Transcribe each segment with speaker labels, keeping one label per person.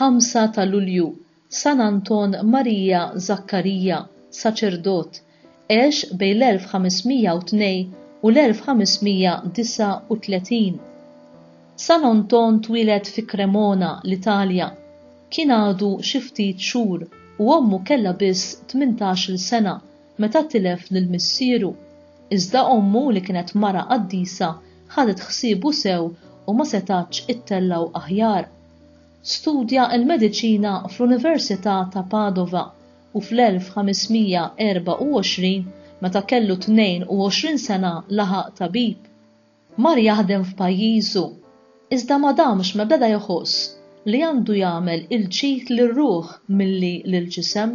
Speaker 1: 5 ta' Lulju, San Anton Marija Zakkarija, saċerdot, għex bejn l-1502 u l-1539. San Anton twieled fi Cremona, l-Italja. Kien għadu xi ftit xhur u ommu kellha biss tmintax-il sena meta tilef lil missieru, iżda ommu li kienet mara qaddisa ħadet ħsiebu sew u ma setgħatx ittellgħu aħjar. Studja l-mediċina fl-Università ta' Padova u fl-1524, meta kellu 22 sena laħaq tabib. Mar jaħdem f'pajjiżu, iżda ma damx ma beda jħoss li għandu jagħmel il-ġid lir-ruħ milli lill-ġisem.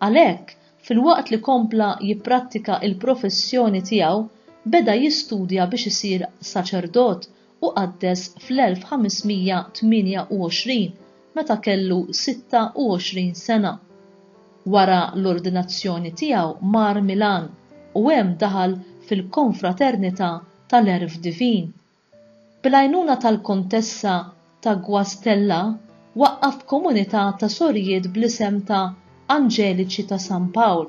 Speaker 1: Għalhekk, filwaqt li kompla jipprattika l-professjoni tiegħu, beda jistudja biex isir saċerdot u qaddes fl-1528 meta kellu 26 sena. Wara l-ordinazzjoni tiegħu mar Milan u hemm daħal fil-Konfraternità tal-Għerf Divin. Bil-għajnuna tal-Kontessa ta' Guastella waqqaf komunità ta' sorijiet bl-isem ta' Anġeliċi ta' San Pawl.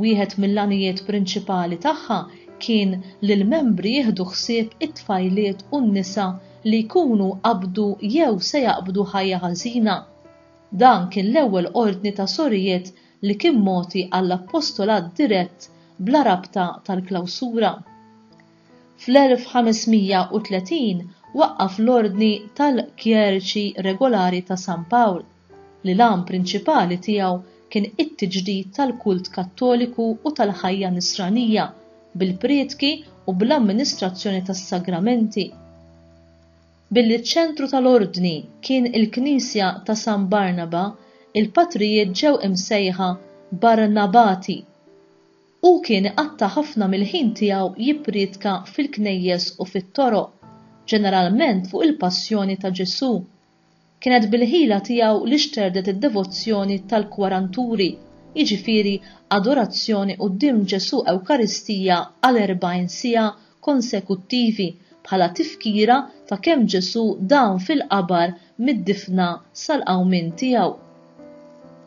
Speaker 1: Wieħed mill-għanijiet prinċipali tagħha kien li l-membri jieħdu ħsieb it-tfajliet u n-nisa li jkunu qabdu jew se jaqbdu ħajja ħażina. Dan kien l-ewwel ordni ta' sorijiet li kien mogħti għall-appostolat dirett bla rabta tal-klawsura. Fl-1530 waqqaf l-ordni tal-kjeriċi regolari ta' San Pawl. li l-għan prinċipali tiegħu kien it-tiġdid tal-kult Kattoliku u tal-ħajja Nisranija bil-prietki u bl-amministrazzjoni tas-sagramenti. Billi ċ-ċentru tal-Ordni kien il-knisja ta' San Barnaba, il-patrijiet ġew imsejħa Barnabati. Hu kien iqatta' ħafna mill-ħin tiegħu jipprietka fil-knejjes u fit-toroq, ġeneralment fuq il-passjoni ta' Ġesù. Kienet bil-ħila tiegħu li xterdet id-devozzjoni tal-kwaranturi, jiġifieri adorazzjoni quddiem Ġesù Ewkaristija għal erbgħin siegħa konsekuttivi bħala tifkira ta' kemm Ġesù dam fil-qabar mid-difna sal-qawmien tiegħu.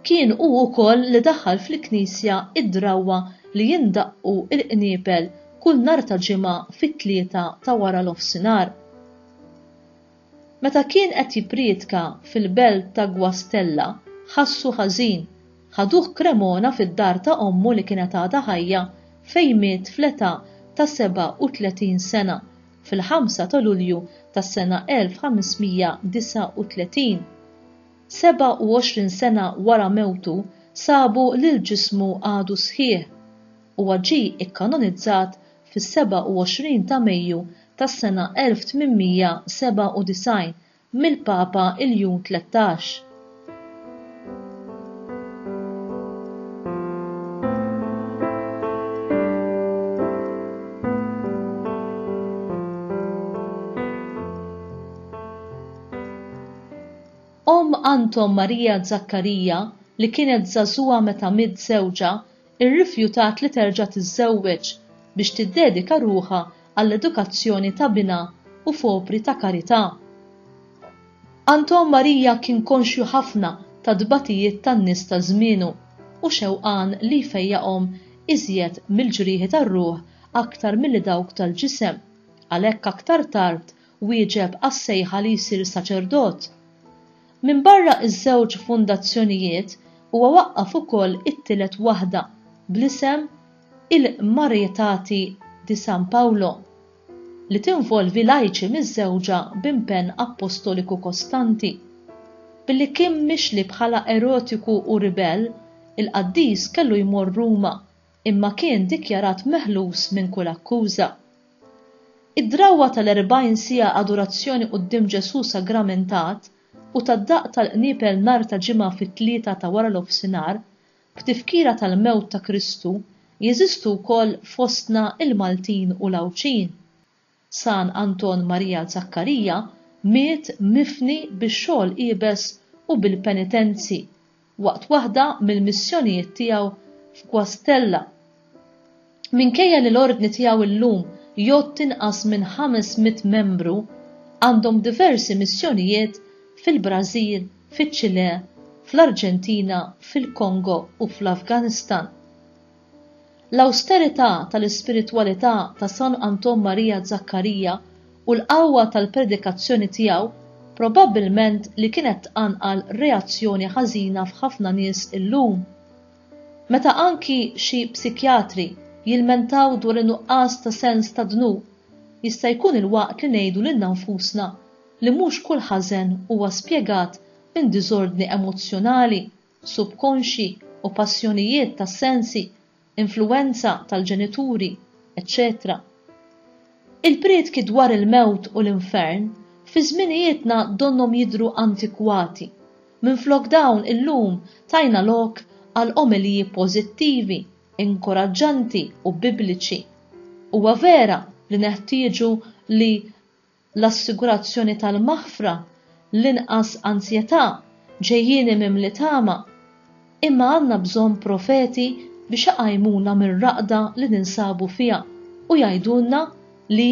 Speaker 1: Kien hu wkoll li daħħal fil-knisja id-drawwa li jindaqqu l-qniepel kull nhar ta' Ġimgħa fit-tlieta ta' wara l-ofsinhar. Meta kien qed jippriedka fil-belt ta' Guastella, ħassu ħażin. Ħaduh Cremona fid-dar ta' ommu li kienet għadha ħajja fejn miet fl-età ta' 37 sena, fil-ħamsa ta' Lulju tas-sena 1539. 27 sena wara mewtu sabu li l-ġismu għadu sħiħ. Huwa ġie kkanonizzat fis-27 ta' Mejju tas-sena 1897 mill-Papa Iljun Tlettax. Omm Anton Maria Zaccaria, li kienet żagħżugħa meta miet żewġha, irrifjutat li terġa' tiżżewweġ biex tiddedika ruħha għall-edukazzjoni ta' binha u f'opri ta' karità. Anton Maria kien konxju ħafna tat-tbatijiet tan-nies ta' żmienu u xewqan li jfejjaqhom iżjed mill-ġrieħi tar-ruħ aktar milli dawk tal-ġisem, għalhekk aktar tard wieġeb għas-sejħa li jsir saċerdot. Minbarra ż-żewġ fundazzjonijiet huwa waqqaf ukoll it-tielet waħda bl-isem il-Marietati di San Paolo, li tinvolvi lajċi miżżewġa b'impenn appostoliku kostanti. Billi kien mixli bħala erotiku u ribell, il-qaddis kellu jmorr Ruma imma kien dikjarat meħlus minn kull akkuża. Id-drawwa tal-erbgħin siegħa adurazzjoni quddiem Ġesù sagramentat u tad-daqq tal-qniepel nhar ta' Ġimgħa fit-tlieta ta' wara l-ofsinhar, b'tifkira tal-mewt ta' Kristu, jeżistu wkoll fostna l-Maltin u l-Għawdxin. San Anton Marija Zakkarija miet mifni bix-xogħol iebes u bil-penitenzi waqt waħda mill-missjonijiet tiegħu f'Guastella. Minkejja li l-Ordni tiegħu llum jgħodd inqas minn ħames mitt membru, għandhom diversi missjonijiet fil-Brażil, fiċ-Ċilè, fl-Arġentina, fil-Kongo u fl-Afganistan. L-awsterità tal-ispiritwalità ta' San Anton Marija Zakkarija u l-qawwa tal-predikazzjoni tiegħu probabbilment li kienet tqanqal reazzjoni ħażina f'ħafna nies illum. Meta anki xi psikjatri jilmentaw dwar in-nuqqas ta' sens tad-dnub, jista' jkun il-waqt li ngħidu lilna nfusna li mhux kull ħażen huwa spjegat minn diżordni emozzjonali. subkonxji u passjonijiet tas-sensi, influwenza tal-ġenituri, eċċetera Il-prietki dwar il-mewt u l-infern fi żminijietna donnhom jidhru antikwati, minflok dawn illum tajna lok għal omeliji pożittivi, inkuraġġanti u Bibliċi. Huwa vera li neħtieġu li l-assigurazzjoni tal-maħfra, l-inqas anzjetà, ġejjieni mimli tama, imma għandna bżonn profeti biex iqajmuna mir-raqda li ninsabu fiha u jgħidulna li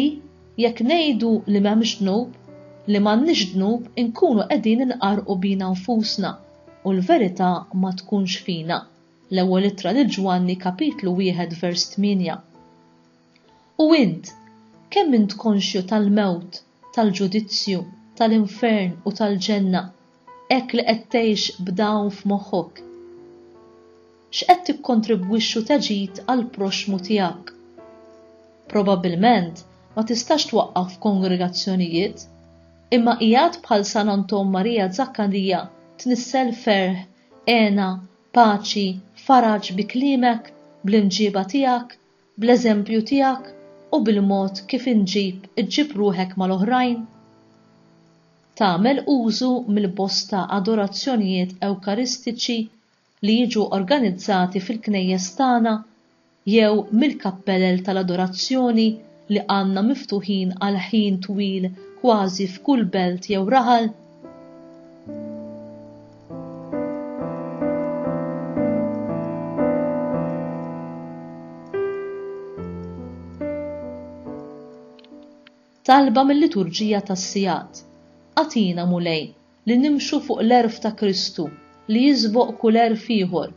Speaker 1: jekk ngħidu li m'hemmx dnub, li m'għandniex dnub inkunu qegħdin inqarrqu bina nfusna u l-verità ma tkunx fina. L-Ewwel Ittra lil Ġwanni kapitlu wieħed vers tmienja. U int, kemm int konxju tal-mewt, tal-ġudizzju, tal-infern u tal-ġenna, hekk li qed tgħix b'dawn f'moħħok? X'qed tikkontribwixxu teġid għall-proxxmu tiegħek? Probabbilment ma tistax twaqqaf f'kongregazzjonijiet, imma qiegħed bħal San Anton Marija Zakkarija tnissel ferħ, hena, paċi, faraġ bi kliemek, bl-imġieba tiegħek, bl-eżempju tiegħek u bil-mod kif inġib iġġib ruħek mal-oħrajn? Tagħmel użu mill-bosta adorazzjonijiet ewkaristiċi li jiġu organizzati fil-knejjes tagħna jew mill-kappelel tal-adorazzjoni li għandna miftuħin għal ħin twil kważi f'kull belt jew raħal? talba mill-liturġija tas-sigħat. Atina Mulej li nimxu fuq l-għerf ta' Kristu li jisboq kull għerf ieħor.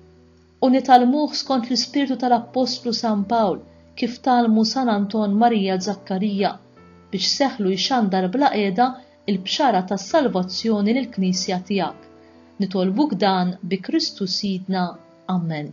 Speaker 1: u nitgħallmuh skont l-ispirtu tal-appostlu San Pawl kif tgħallmu San Anton Marija Zakkarija, biex seħħlu jxandar bla qiegħda l-bxara tas-salvazzjoni lill-Knisja tiegħek. Nitolbuk dan bi Kristu Sidna. Amen.